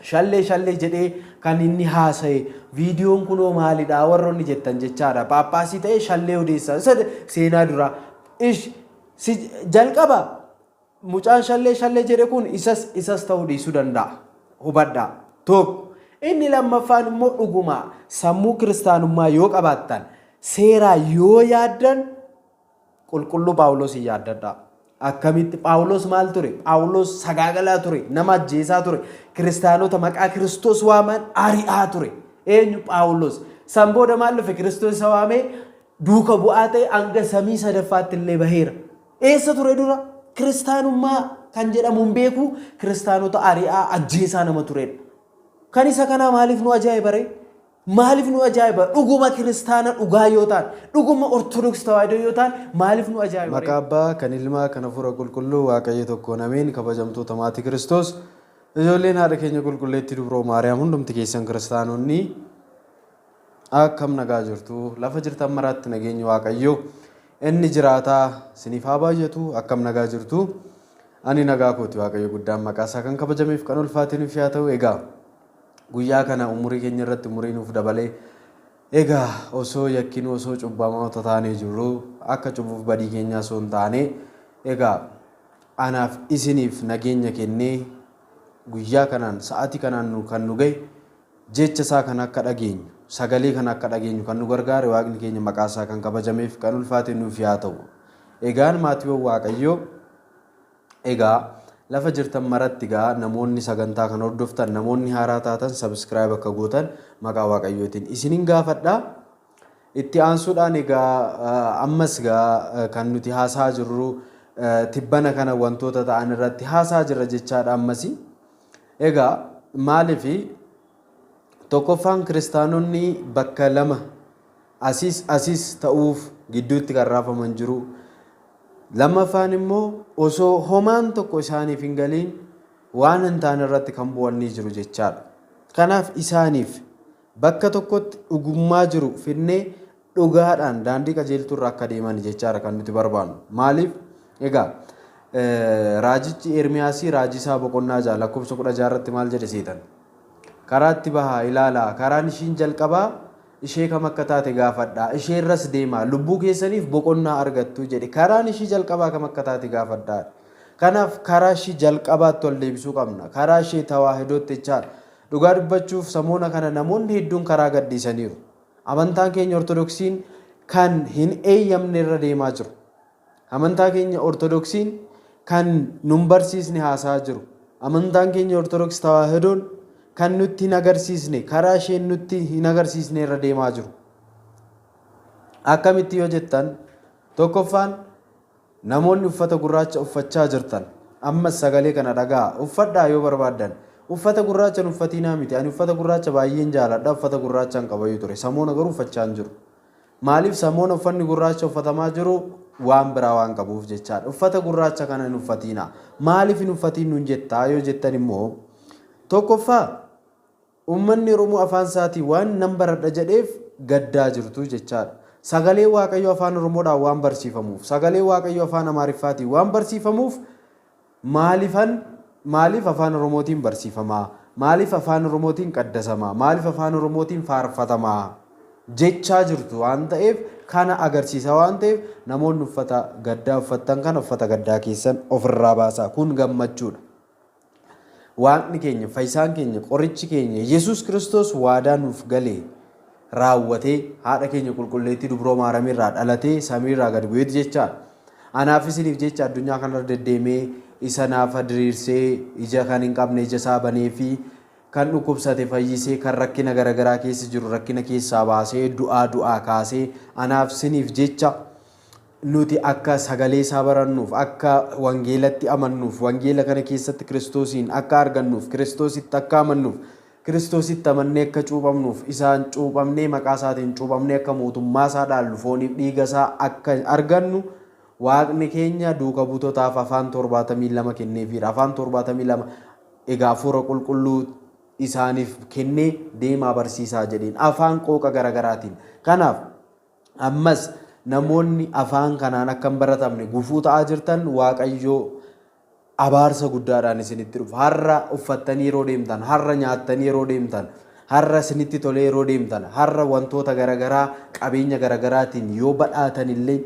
Shallee shallee jedhee kan inni haasaye viidiyoon kunoo maalidha warroonni jettan jechaadha. Paappaasii ta'ee shallee odeessa isa seenaa duraa. Ish si jalqaba mucaan shallee shallee jedhe kun isas isas ta'uu dhiisuu danda'a. Hubadhaa. Tokko. Inni lammaffaan immoo dhuguma sammuu kiristaanummaa yoo qabaattan seeraa yoo yaaddan Qulqulluu Phaawulosiin yaaddadhaa. Akkamitti? Phaawulos maal ture? Phaawulos sagaagalaa ture, nama ajjeesaa ture, kiristaanota maqaa Kiristoos waaman ari'aa ture. Eenyu? Phaawulos. San booda maal dhufe? Kiristoos isa waamee duuka bu'aa ta'e hanga samii sadaffaatti illee baheera. Eessa ture dura? Kiristaanummaa kan jedhamu hin beeku, kiristaanota ari'aa ajjeesaa nama turedha. Kan isa kanaa maaliif nu ajaa'ibare? Maaliif nu ajaa'iba? Dhuguma kiristaana dhugaa yoo taan, dhuguma Ortodoks Tawaahidoo yoo taan maaliif nu ajaa'iba ree? Maqaa Abbaa, kan Ilmaa, kan Hafuura Qulqulluu, Waaqayyo tokkoon Ameen! Kabajamtoota Maatii Kiristoos, ijoolleen Haadha keenya Qulqulleettii Dubroo Maariyaam hundumti keessan kiristaanonni akkam nagaa jirtu? Lafa jirtan maraatti nageenyi Waaqayyoo inni jiraataa isiniif haa baay'atu akkam nagaa jirtu? Ani nagaa kooti Waaqayyo guddaan maqaa isaa kan kabajameef kan ulfaatee nuuf yaa ta'u egaa. Guyyaa kana umurii keenya irratti umurii nuuf dabalee Egaa osoo yakkinuu osoo cubbamoota taanee jirruu akka cubuuf badii keenyaa osoo hin taanee egaa anaaf isiniif nageenya kennee guyyaa kanaan sa'aatii kanaan nu kan nu gahe jecha isaa kan akka dhageenyu sagalee kan akka dhageenyu kan nu gargaare waaqni keenya maqaa isaa kan kabajameef kan ulfaate nuuf yaa ta'u. Egaan maatiiwwan waaqayyoo Egaa Lafa jirtan maratti egaa namoonni sagantaa kan hordoftan namoonni haaraa taatan subscribe akka gootan maqaa waaqayyootiin isinin gaafadha. Itti aansuudhaan egaa ammas egaa kan nuti haasaa jirru tibbana kana wantoota ta'an irratti haasaa jirra jechaadha ammas. Egaa maaliif tokkoffaan kiristaanonni bakka lama Asiis asis ta'uuf gidduutti kan raafaman jiru. Lammaffaan immoo osoo homaan tokko isaaniif hin galiin waan hin taane irratti kan bu'an ni jiru jechaadha. Kanaaf isaaniif bakka tokkotti dhugummaa jiru fidnee dhugaadhaan daandii qajeeltuu irra akka deeman jechaadha kan nuti barbaannu. Maaliif? Egaa raajichi Ermiyaasii raajii isaa boqonnaa ja'a lakkoofsa kudha ja'a irratti maal jedhe seetan? Karaatti bahaa ilaalaa karaan ishiin jalqabaa Ishee kam akka taate gaafadhaa, isheerras deemaa, lubbuu keessaniif boqonnaa argattu jedhe. Karaan ishii jalqabaa kam akka taate gaafadhaa. Kanaaf karaa ishii jalqabaatti ol deebisuu qabna. Karaa ishee tawaahidootti jechaan. Dhugaa dubbachuuf samoona kana namoonni hedduun karaa gadhiisaniiru. Amantaan keenya Ortodoksiin kan hin eeyyamne irra deemaa jiru. Amantaa keenya Ortodoksiin kan nun barsiisne haasa'aa jiru. Amantaan keenya Ortodoks Tawaahidoon kan nutti hin agarsiisne, karaa isheen nutti hin agarsiisne irra deemaa jiru. Akkamitti yoo jettan, tokkoffaan namoonni uffata gurraacha uffachaa jirtan, ammas sagalee kana dhaga'a, uffadhaa yoo barbaaddan. Uffata gurraacha hin uffatiinaa miti, ani uffata gurraacha baay'een jaaladha, uffata gurraacha hin qabayuu ture, samoona garuu uffachaa hin jiru. Maaliif samoona uffanni gurraacha uffatamaa jiru waan biraa waan qabuuf jechaadha. Uffata gurraacha kana hin uffatiina. Maaliif hin uffatiin nuun jettaa yoo jettan immoo tokkoffaa ummanni Oromoo afaan isaatii waan nan baradha jedheef gaddaa jirtu jechaadha. Sagalee Waaqayyoo afaan Oromoodhaan waan barsiifamuuf, sagalee Waaqayyoo afaan Amaariffaatiin waan barsiifamuuf Maalifan Maaliif Afaan Oromootiin barsiifamaa? Maaliif Afaan Oromootiin qaddasamaa? Maaliif Afaan Oromootiin faarfatamaa? jechaa jirtu waan ta'eef kana agarsiisa waan ta'eef namoonni uffata gaddaa uffattan kana uffata gaddaa keessan ofirraa baasaa kun gammachuudha. Waaqni keenya, fayyisaan keenya, qorichi keenya Yesuus Kiristoos waadaa nuuf galee raawwatee, haadha keenya Qulqulleettii Dubroo Maaramii irraa dhalatee samii irraa gad bu'eeti jechaa dha. Anaa fi isiniif jecha addunyaa kana irra deddeemee isa naafa diriirsee, ija kan hin qabne ija isaa baneefii, kan dhukkubsate fayyisee, kan rakkina gara garaa keessa jiru rakkina keessaa baasee, du'aa du'aa kaasee, anaaf isiniif jecha nuti akka sagalee isaa barannuuf, akka wangeelatti amannuuf, wangeela kana keessatti Kiristoosiin akka argannuuf, Kiristoositti akka amannuuf, Kiristoositti amannee akka cuuphamnuuf, isaan cuuphamnee maqaa isaatiin cuuphamnee akka mootummaa isaa dhaallu, fooniif dhiiga isaa akka argannu Waaqni keenya duuka buutotaaf afaan 72 kenneefiira. Afaan 72 egaa hafuura qulqulluu isaaniif kennee deemaa barsiisaa jedheen. Afaan qooqa garagaraatiin. Kanaaf ammas namoonni afaan kanaan akka hin baratamne gufuu ta'aa jirtan Waaqayyoo abaarsa guddaadhaan isinitti dhufa. Har'a uffattanii yeroo deemtan, har'a nyaattanii yeroo deemtan, har'a isinitti tolee yeroo deemtan, har'a wantoota garagaraa qabeenya garagaraatiin yoo badhaatan illee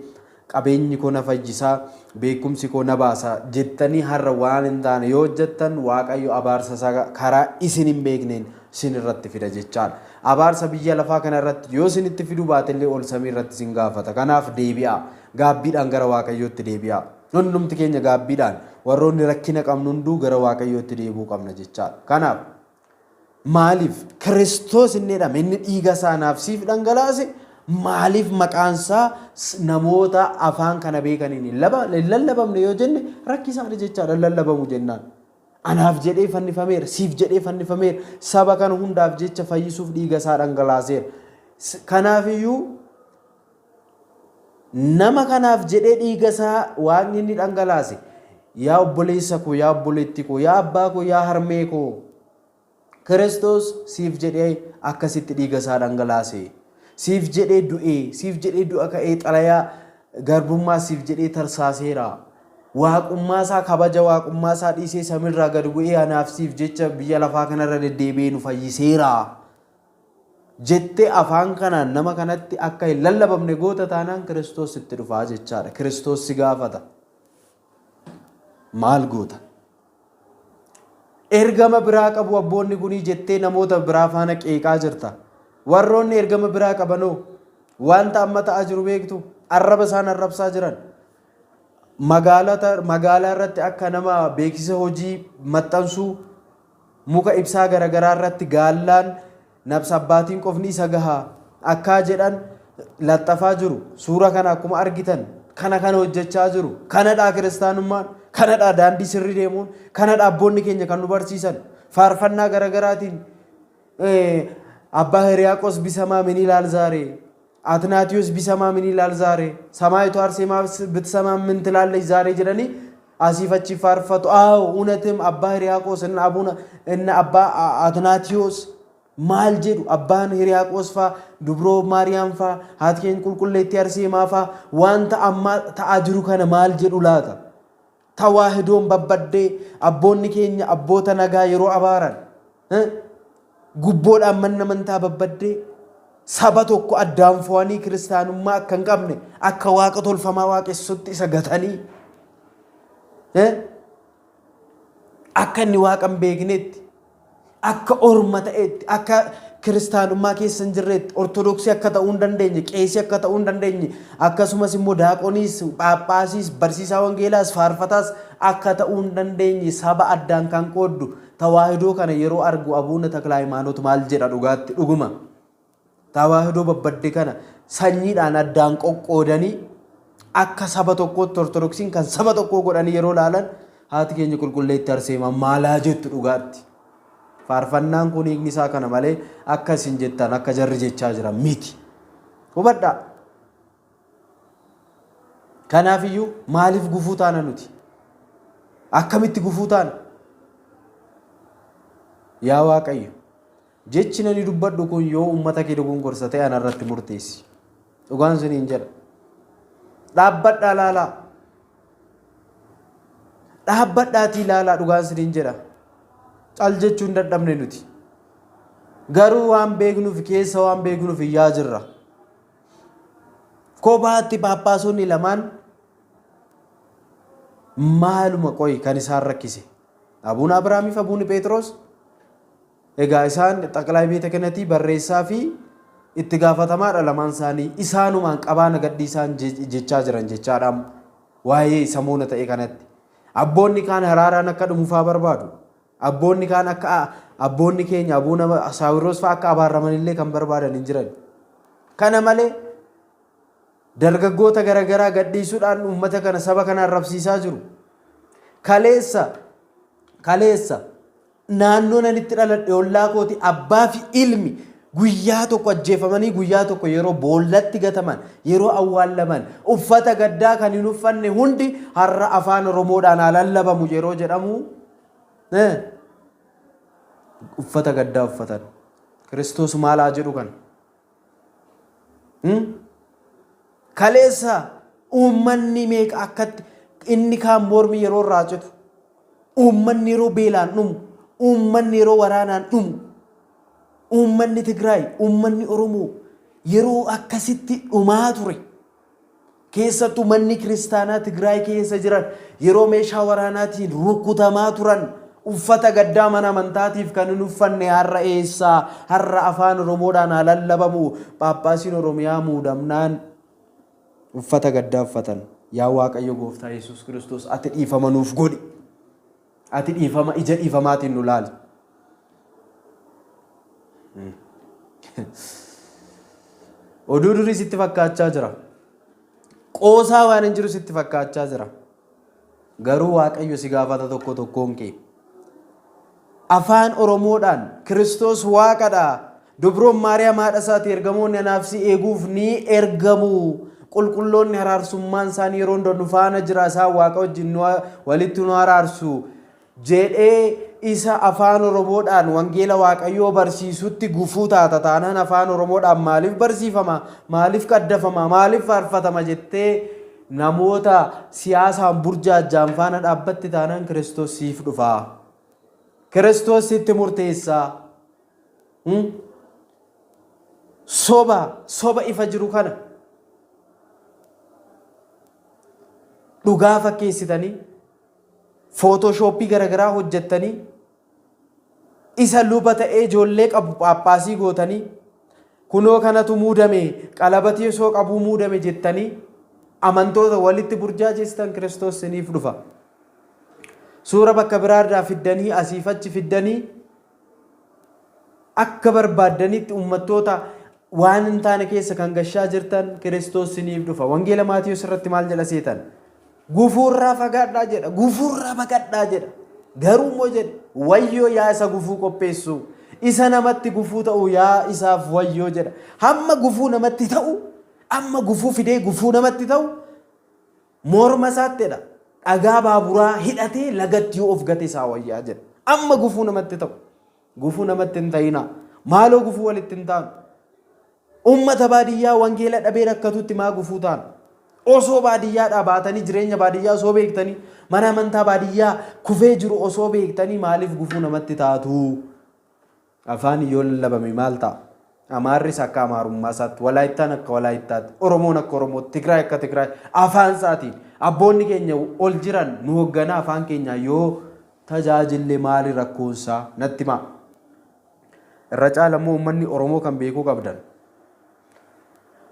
qabeenyi koo na fayyisaa, beekumsi koo na baasa jettanii har'a waan hin taane yoo hojjettan Waaqayyo abaarsa isaa karaa isin hin beekneen isin irratti fida jechaadha. Abaarsa biyya lafaa kana irratti yoo isinitti fiduu baate illee ol samii irratti isin gaafata. Kanaaf deebi'aa. Gaabbiidhaan gara Waaqayyootti deebi'aa. Nu hundumti keenya gaabbiidhaan, warroonni rakkina qabnu hunduu gara Waaqayyootti deebi'uu qabna jechaa dha. Kanaaf, Maaliif? Kiristoos inni jedhame, inni dhiiga isaa naaf siif dhangalaase, maaliif maqaan isaa namoota afaan kana beekaniin hin laba- hin lallabamne yoo jenne rakkisaa dha jechaa dha, hin lallabamu jennaan. Anaaf jedhee fannifameera, siif jedhee fannifameera, saba kana hundaaf jecha fayyisuuf dhiiga isaa dhangalaaseera. S- Kanaaf iyyuu Nama kanaaf jedhee dhiiga isaa Waaqni inni dhangalaase, yaa obboleessa koo, yaa obboleettii koo, yaa abbaa koo, yaa harmee koo, Kiristoos siif jedhee akkasitti dhiiga isaa dhangalaase. Siif jedhee du'ee, siif jedhee du'a ka'ee xalayaa garbummaa siif jedhee tarsaaseera. Waaqummaa isaa kabaja waaqummaa isaa dhiisee samiirraa gad bu'ee anaaf siif jecha biyya lafaa kanarra deddeebi'ee nu fayyiseera. jettee afaan kanaan nama kanatti akka hin lallabamne goota taanaan Kiristoos sitti dhufaa jechaadha. Kiristoos si gaafata. Maal goota? Ergama biraa qabu abboonni kunii jettee namoota biraa faana qeeqaa jirta. Warroonni ergama biraa qabanoo wanta amma ta'aa jiru beektu arraba isaan arrabsaa jiran. Magaalaa irratti akka nama beeksisa hojii maxxansuu Muka ibsaa garagaraa irratti gaallaan nabsa abbaatiin qofni isa gaha akkaa jedhan laxxafaa jiru. Suura kana akkuma argitan kana kana hojjechaa jiru. Kanadhaa kiristaanummaan, kanadhaa daandii sirri deemuun, kanadhaa abboonni keenya kan nu barsiisan. Faarfannaa garagaraatiin abbaa hiriyaaqos bisamaa min ilaal zaaree. Atinaatiyos bisamaa min ilaal zaare? Samaayitu Arsemaa bitsamaa min tilaallesh zaare jedhanii asiif achi faarfatu. Aaw unatim abbaa hiriyaaqoos inna abuna inna abbaa A- Atinaatiyos maal jedhu abbaan hiriyaaqoos faa dubroo maariyaam faa haati keenya qulqulleettii Arseemaa faa wanta ammaa ta'aa jiru kana maal jedhu laata? Tawaahidoon babbaddee abboonni keenya abboota nagaa yeroo abaaran gubboodhaan manni amantaa babbaddee saba tokko addaan fo'anii kiristaanummaa akka hin qabne akka waaqa tolfamaa waaqessutti isa gatanii akka inni waaqa hin beeknetti Akka orma ta'eetti, akka kiristaanummaa keessa hin jirreetti, ortodoksii akka ta'uu hin dandeenye, qeesii akka ta'uu hin dandeenye, akkasumas immoo daaqoniis, phaaphaasiis, barsiisaa wangeelaas, faarfataas akka ta'uu hin dandeenye saba addaan kan qooddu tawaahidoo kana yeroo argu Abuuna Taklahaymaanot maal jedha dhugaatti dhuguma? Tawaahidoo babbadde kana sanyiidhaan addaan qoqqoodanii akka saba tokkootti Ortodoksiin kan saba tokkoo godhanii yeroo laalan haati keenya qulqulleetti Arseemaa maalaa jettu dhugaatti. Faarfannaan kun hiikni isaa kana malee akka isin jettan akka jarri jechaa jiran miti. Hubadhaa. Kanaaf iyyuu maaliif gufuu taana nuti? Akkamitti gufuu taana? Yaa Waaqayyo! Jechin ani dubbadhu kun yoo ummata kee dogongorsa ta'e ana irratti murteessi. Dhugaan siniin jedha. Dhaabbadhaa laalaa. Dhaabbadhaatii laalaa dhugaan siniin jedha. Cal jechuun dadhabne nuti. Garuu waan beeknuuf keessa waan beeknuuf iyyaa jirra. Kophaatti paappaasonni lamaan maaluma qoyi kan isaan rakkise. Abuun Abiraamiif Abuun Pheexiroos Egaa isaan xaqlaay beeta kenatii barreessaa fi itti gaafatamaadha lamaan isaanii isaanumaan qabaa na gadhiisaan jechaa jiran jechaadhaam waa'ee samoona ta'e kanatti abboonni kaan haraaraan akka dhumufaa barbaadu abboonni kaan akka abboonni keenya abuuna saawirroos fa'aa akka abaarramanillee kan barbaadan hin jiran kana malee dargaggoota garaagaraa gadhiisuudhaan uummata kana saba kana arrabsiisaa jiru kaleessa kaleessa Naannoon ani itti dhaladhe ollaa kooti abbaa fi ilmi guyyaa tokko ajjeefamanii guyyaa tokko yeroo boollatti gataman yeroo awwaallaman uffata gaddaa kan hin uffanne hundi har'a afaan oromoodhaan haa lallabamu yeroo jedhamu eh, uffata gaddaa uffatan kiristoos maal haa jedhu kana Kaleessa uummanni meeqa akkatti inni kaan mormi yeroo irraa citu uummanni yeroo beelaan dhumu uummanni yeroo waraanaan dhumu uummanni Tigraay uummanni Oromoo yeroo akkasitti dhumaa ture Keessattuu manni kiristaanaa Tigraay keessa jiran yeroo meeshaa waraanaatiin rukutamaa turan uffata gaddaa mana amantaatiif kan hin uffanne har'a eessa? Har'a afaan Oromoodhaan haa lallabamu. Phaaphaasiin Oromiyaa muudamnaan uffata gaddaa uffatan. Yaa Waaqayyo Gooftaa Yesuus Kiristoos ati dhiifama nuuf godhi. Ati dhiifama ija dhiifamaatiin nu laali. Oduu durii sitti fakkaachaa jira. Qoosaa waan hin jiru sitti fakkaachaa jira. Garuu Waaqayyo si gaafata tokko tokkoon kee. Afaan Oromoodhaan Kiristoos Waaqadha Dubroon Maariyaam haadha isaati ergamoonni anaaf si eeguuf ni ergamu. Qulqulloonni haraarsummaan isaan yeroo hunda nu faana jira isaan waaqa wajjin nu walitti nu haraarsu jedhee isa afaan Oromoodhaan wangeela Waaqayyoo barsiisutti gufuu taata taanaan afaan Oromoodhaan maaliif barsiifama maaliif qaddafama maaliif faarfatama jettee namoota siyaasaan burjaajjaan faana dhaabbatti taanaan Kiristoos siif dhufa. Kiristoos sitti murteessaa. Soba, soba ifa jiru kana dhugaa fakkeessitanii footooshooppii garaagaraa hojjettanii isa luba ta'ee ijoollee qabu phaaphaasii gootanii kunoo kanatu muudame qalabatii osoo qabuu muudame jettanii amantoota walitti burjaajestan kiristoos isiniif dhufa. Suura bakka biraarraa fiddanii asiif achi fiddanii Akka barbaaddanitti ummattoota waan hin taane keessa kan gashaa jirtan Kiristoos isiniif dhufa. Wangeela Maatiyos irratti maal jedha seetan? Gufuurraa fagaadhaa jedha. Gufuurraa baqadhaa jedha. Garuu immoo jedhe wayyoo yaa isa gufuu qopheessu. Isa namatti gufuu ta'u yaa isaaf wayyoo jedha. Hamma gufuu namatti ta'u, amma gufuu fidee gufuu namatti ta'u Morma isaatti jedha dhagaa baaburaa hidhatee lagatti yoo of gate isaa wayyaa jedha. Amma gufuu namatti ta'u. Gufuu namatti hin ta'inaa. Maaloo gufuu walitti hin taanu. Uummata baadiyyaa wangeela dhabee rakkatutti maa gufuu taana. Osoo baadiyyaadhaa baatanii jireenya baadiyyaa osoo beektanii mana amantaa baadiyyaa kufee jiru osoo beektanii maaliif gufuu namatti taatu? Afaan yoo lallabame maal ta'a? Amaarris akka Amaarummaasaatti, Walaayittaan akka Walaayittaatti, Oromoon akka Oromootti, Tigraay akka Tigraay afaansaatiin abboonni keenya ol jiran nu hogganaa afaan keenyaan yoo tajaajille maali rakkoonsaa? Natti himaa. Irra caala immoo uummanni Oromoo kan beekuu qabdan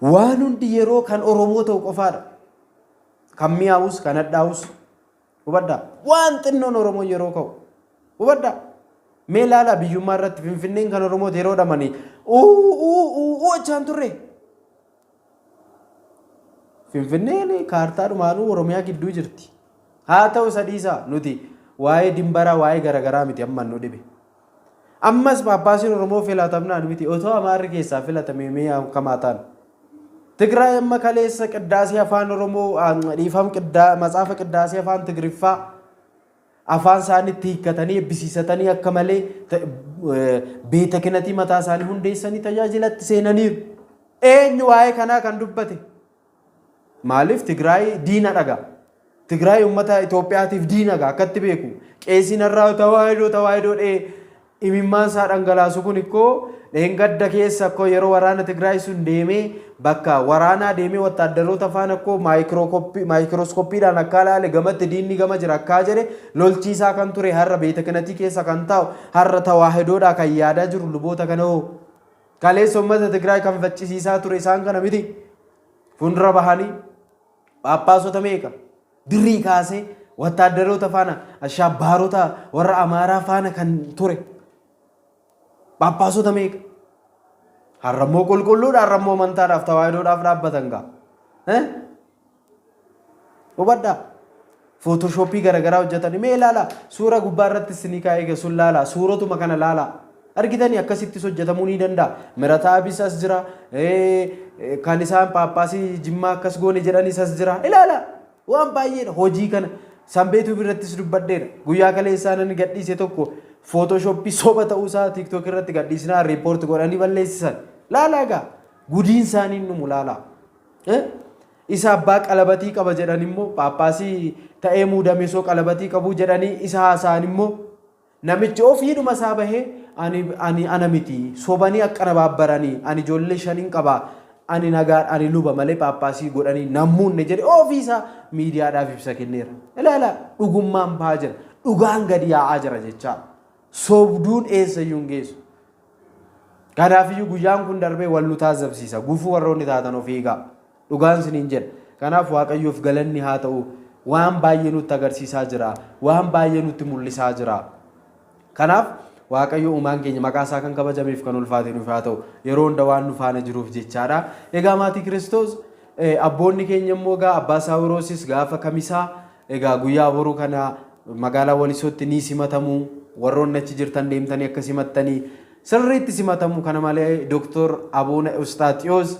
waan hundi yeroo kan Oromoo ta'u qofaadha. Kan mi'aawus kan hadhaawus Hubadhaa! Waan xinnoon Oromoon yeroo ka'u. Hubadhaa! Mee ilaalaa biyyummaa irratti Finfinneen kan Oromooti yeroo dhamanii uuu achaan turre. Finfinneen kaartaa dhumaanuu Oromiyaa gidduu jirti. Haa ta'u isa dhiisaa nuti waa'ee dimbaraa waa'ee garaagaraa miti amma nu dhibe. Ammas Phaaphaasiin Oromoo filatamnaan miti otoo Amaarri keessaa filatamee mee akkam haa taanu? Tigraay amma kaleessa qiddaasii afaan Oromoo dhiifam qiddaa matsaafa qiddaasii afaan Tigriffaa afaan isaanitti hiikkatanii ebbisiisatanii akka malee beeta kinatii mataa isaanii hundeessanii tajaajilatti seenaniiru. Eenyu waa'ee kanaa kan dubbate? Maaliif Tigraay diina dhaga. Tigraay ummata Itoophiyaatiif diina ga akkatti beeku. Qeesiin har'aa tawaahidoo tawaahidoo dhee imimmaan isaa dhangalaasu kun ikkoo dheengadda keessa akkoo yeroo waraana Tigraay sun deemee bakka waraanaa deemee wattaaddaroota faana akkoo maayikirooskoppiidhaan akkaa laale gamatti diinni gama jira akkaa jedhe lolchiisaa kan ture har'a beetekinatii keessa kan taa'u har'a tawaahidoodhaa kan yaadaa jiru luboota kana hoo. Kaleessa uummata Tigraay kan faccisiisaa ture isaan kana miti. Fuuldura bahanii phaaphaasota meeqa durii kaasee wattaaddaroota faana ashaabbaarota warra Amaaraa faana kan ture phaaphaasota meeqa. Har'ammoo qulqulluudha har'ammoo amantaadhaaf tawaayidoodhaaf dhaabbatan gaa. Hubadhaa. Footoshoopii garagaraa hojjetanii mee ilaalaa suura gubbaa irratti isinii kaa'ee egaa sun laalaa suurotuma kana laalaa. Argitanii akkasittis hojjetamuu ni danda'a. Mirataa abis as jira. Kan isaan paappaasii jimmaa akkas goone jedhanis as jira. Ilaalaa waan baay'eedha hojii kana. Sanbeetuu birattis dubbadheera. Guyyaa kaleessaa nan gadhiise tokko footoshoopii soba ta'uusaa tiiktook irratti gadhiisnaa riippoorti godhanii balleessisan. Laalaa egaa gudiin isaanii dhumu laalaa. Isa abbaa qalabatii qaba jedhan immoo paappaasii ta'ee muudame osoo qalabatii qabuu jedhanii isa haasa'an immoo namichi ofiidhuma isaa bahee ani ani ana miti sobanii akkana baabbaranii ani ijoollee shanin qaba ani nagaan ani luba malee paappaasii godhanii nan muunne jedhe ofii isaa miidiyaadhaaf ibsa kenneera. Ilaala dhugummaan ba'aa jira dhugaan gadi yaa'aa jira jechaa sobduun eessa iyyuu hin geessu. Kanaafiyyuu guyyaan kun darbee wal nu taazzabsiisa. Gufuu warroonni taatan of eegaa. Dhugaan isiniin jedha. Kanaaf Waaqayyoof galanni haa ta'u waan baay'ee nutti agarsiisaa jira. Waan baay'ee nutti mul'isaa jira. Kanaaf Waaqayyo uumaan keenya maqaa isaa kan kabajameef kan ulfaate nuuf haa ta'u. Yeroo hunda waan nu faana jiruuf jechaadha. Egaa maatii Kiristoos abboonni keenya immoo egaa abbaa Saawiroosis gaafa kamisaa Egaa guyyaa boru kana magaalaa Walisootti ni simatamu. Warroonni achi jirtan deemtanii akka simattanii sirriitti simatamu. Kana malee Doktor Abuuna Ewustaaxiyoos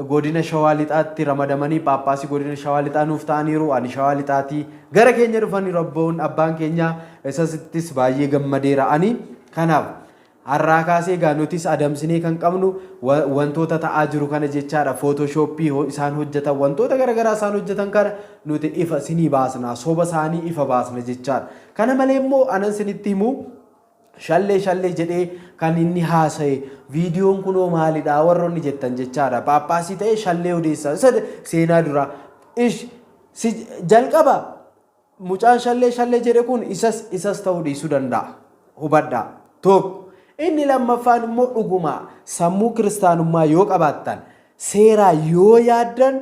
godina Shawaa Lixaatti ramadamanii Phaaphaasii godina Shawaa Lixaa nuuf ta'aniiru. Ani Shawaa Lixaatii gara keenya dhufaniiru abboon abbaan keenya isasittis baay'ee gammadeera ani. Kanaaf Har'aa kaasee egaa nutis adamsinee kan qabnu wantoota ta'aa jiru kana jechaadha. Footoshoppii isaan hojjetan wantoota garagaraa isaan hojjetan kana nuti ifa isinii baasna. Soba isaanii ifa baasna jechaadha. Kana malee immoo anan isinitti himu shallee shallee jedhee kan inni haasa'e viidiyoon kunoo maalidha warroonni jettan jechaadha. Paappaasii ta'ee shallee odeessa. Seenaa duraa. Ish jalqaba Mucaan shallee shallee jedhe kun isas isas ta'uu dhiisuu danda'a. Hubadhaa. Tokko. Inni lammaffaan immoo dhuguma sammuu kiristaanummaa yoo qabaattan, seeraa yoo yaaddan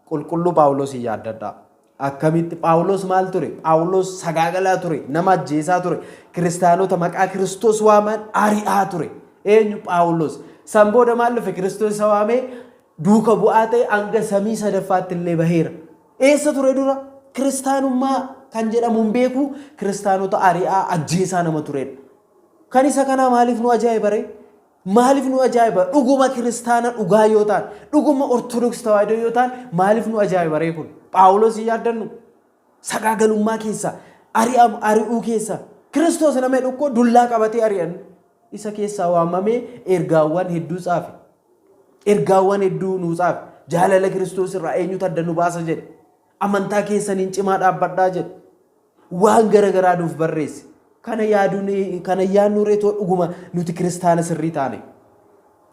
qulqulluu Phaawulosiin yaaddadhaa. Akkamitti Phaawulos maal ture? Phaawulos sagaagalaa ture, nama ajjeesaa ture, kiristaanota maqaa Kiristoos waaman ari'aa ture. Eenyu Phaawulos? San booda maal dhufe? Kiristoos isa waamee duuka bu'aa ta'e hanga samii sadaffaatti illee baheera. Eessa ture dura? Kiristaanummaa kan jedhamu hin beeku, kiristaanota ari'aa ajjeesaa nama turedha. Kan isa kanaa maaliif nu ajaa'iba ree? Maaliif nu ajaa'iba? Dhuguma kiristaana dhugaa yoo ta'an, dhuguma Ortodoksii Tawaahidoo yoo ta'an maaliif nu ajaa'iba ree kun? Phaawulos hin yaaddannu? Sagaagalummaa keessa, ari'am ari'uu keessa, Kiristoos nama jedhu koo dullaa qabatee ari'an. Isa keessaa waamamee ergaawwan hedduu caafe. Ergaawwan hedduu nuu caafe. Jaalala Kiristoos irraa eenyutu adda nu baasa jedhe. Amantaa keessaniin cimaa dhaabbadhaa jedhe. Waan gara garaa nuuf barreesse. Kana yaaduun kana yaadnu reetoo dhuguma nuti kiristaana sirrii taane.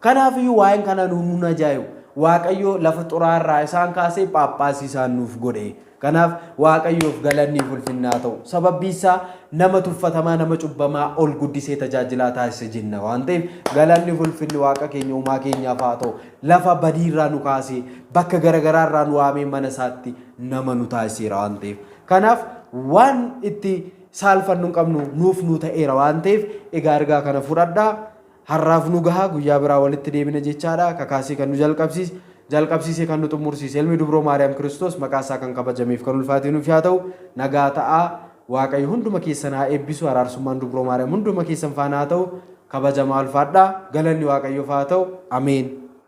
Kanaafiyyuu waa'een kana nu nun ajaa'ibu. Waaqayyo lafa xuraa'aa irraa isaan kaasee phaaphaasii isaan nuuf godhe. Kanaaf Waaqayyoof galanniif ulfinni haa ta'u. Sababbiin isaa nama tuffatamaa, nama cubbamaa ol guddisee tajaajilaa taasise jenna waan ta'eef galanniif ulfinni Waaqa keenya uumaa keenyaaf haa ta'u. Lafa badii irraa nu kaasee, bakka garagaraa irraa nu waamee mana isaatti nama nu taasiseera waan ta'eef. Kanaaf waan itti saalfannu hin qabnu nuuf nu ta'eera waan ta'eef egaa ergaa kana fudhadhaa. Har'aaf nu gaha, guyyaa biraa walitti deebina jechaadha. Kakaasee kan nu jalqabsiis, jalqabsiisee kan nu xummursiis Ilmi Dubroo Maariyaam Kiristoos maqaa isaa kan kabajameef kan ulfaatee nuuf yaa ta'u. Nagaa ta'aa. Waaqayyo hunduma keessan haa eebbisu. Araarsummaan Dubroo Maariyaam hunduma keessan faana haa ta'u. Kabajamaa ulfaadhaa. Galanni Waaqayyoof haa ta'u. Ameen.